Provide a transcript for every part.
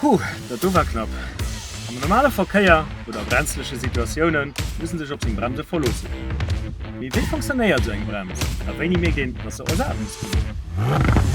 Puh, dat do war knapp! Am normale Verkéier oder a brenzleche Situatioune muss en sech op seng Bremse verloossen. Mee wéi funktionéiert esou eng Brems a wéini mierkt een, datt se ersat muss ginn?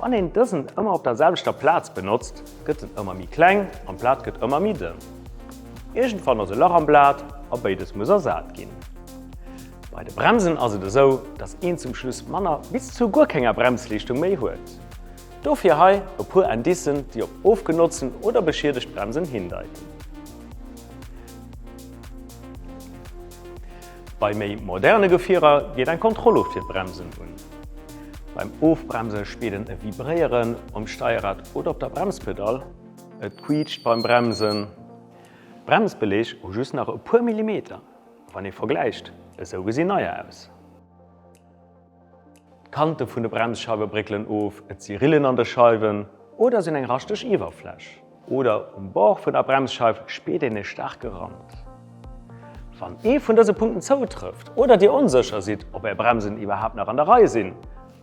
Wann een dësen ëmmer op der selwechter Plaz benotzt, gëtt en ëmmer méi kleng an d'Blat gëtt ëmmer méi dënn. Iergendwann ass e Lach am Blat a béides muss ersat ginn. Bei de Bremsen ass et esou, dass een zum Schluss manner bis zu guer kenger Bremsleeschtung méi huet. Dofir hei e puer Indicen, déi op ofgenotzen oder beschiedegt Bremsen hindeiten. Bei méi moderne Gefierer geet eng Kontrolluucht fir d'Bremsen un. Beim Ofbremse spiert een e Vibréieren um Steierrad oder op der Bremspedall, et quiitscht beim Bremsen. D'Bremsbelege hu just nach e puer Millimeter, wann ee vergläicht, esou gesi neier aus. D'Kante vun de Bremsscheiwe bréckelen of, et si Rillen an de Scheiwen oder sinn eng raschteg Iwwerfläch. Oder um Bord vun der Bremsscheif spiert een e staarke Rand. Wann ee vun dëse Punkten zoutrëfft oder Dir onsécher sidd, ob Är Bremsen iwwerhaapt nach an der Rei sinn,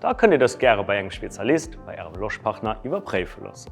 da kënnt Dir dëst gäre bei engem Spezialist, bei Ärem Loschpartner iwwerpréife loossen.